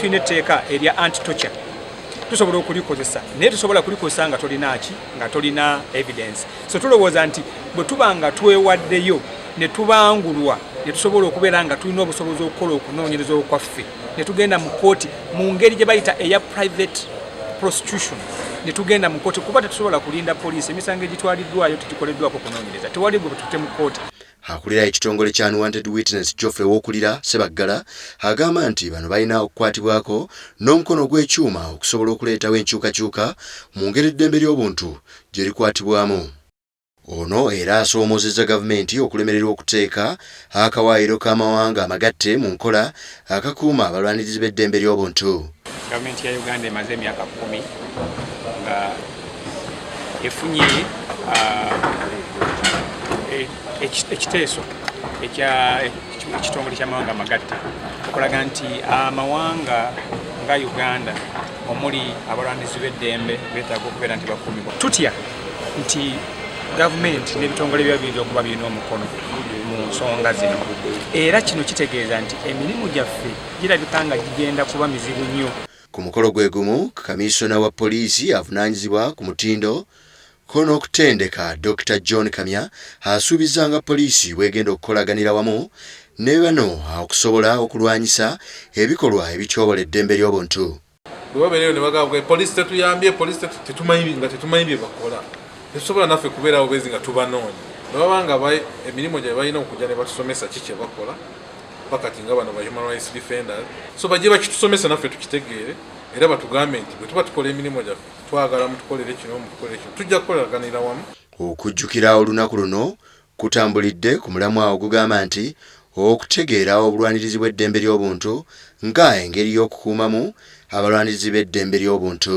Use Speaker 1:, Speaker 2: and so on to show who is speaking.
Speaker 1: tulina
Speaker 2: etteeka erya anti tocha tusobola okulikozesa naye tusobola kulikozesa nga tolina ki nga tolina evidence so tulowooza nti bwe tuba nga twewaddeyo ne tubangulwa ne tusobola okubeera nga tulina obusobozi okukola okunoonyereza okwaffe ne tugenda mu kooti mu ngeri gye bayita eya private prostitution ne tugenda mu kooti kuba tetusobola kulinda poliisi emisango egitwaliddwayo tegikoleddwako kunoonyereza tewali gwe bwe tute mu kooti Akulira ekitongole
Speaker 1: kya Unwanted Witness Geoffrey Wokulira Sebaggala agamba nti bano balina okukwatibwako n'omukono ogw'ekyuma okusobola okuleetawo enkyukakyuka mu ngeri eddembe ly'obuntu gye likwatibwamu. Ono era asoomozezza gavumenti okulemererwa okuteeka akawaayiro k'amawanga amagatte mu nkola akakuuma abalwanirizi b'eddembe ly'obuntu. Gavumenti ya Uganda
Speaker 2: emaze emyaka kkumi nga efunye ah, e, ekiteeso ekya ekitongole ky'amawanga amagatta okulaga nti amawanga nga Uganda omuli abalwanirizi b'eddembe beetaaga okubeera nti bakuumibwa tutya nti gavumenti n'ebitongole bya biyinza okuba birina omukono mu nsonga zino era kino kitegeeza nti emirimu gyaffe girabika nga gigenda kuba mizibu nnyo ku mukolo gwe
Speaker 1: gumu kamiisona wa poliisi avunaanyizibwa ku mutindo ko n'okutendeka dr john kamya asuubizza nga poliisi bwegenda okukolaganira wamu ne bano okusobola okulwanyisa ebikolwa ebityobola eddembe ly'obuntu bwe babeerayo ne
Speaker 3: bagamba poliisi tetuyambye poliisi tetumanyi nga tetumanyi bye bakola tetusobola naffe kubeerawo bezi nga tubanoonya ne baba nga emirimu gye balina okujja ne batusomesa ki kye bakola bakati nga bano ba human rights defenders so bajje bakitusomesa naffe tukitegeere era batugambe nti bwe tuba tukola emirimu gyaffe twagala mutukolere kino mutukolere kino tujja kukolaganira wamu okujjukira
Speaker 1: olunaku luno Kutambulidde ku mulamwa ogugamba nti Okutegeera obulwanirizi bw'eddembe ly'obuntu nga engeri y'okukuumamu abalwanirizi b'eddembe ly'obuntu.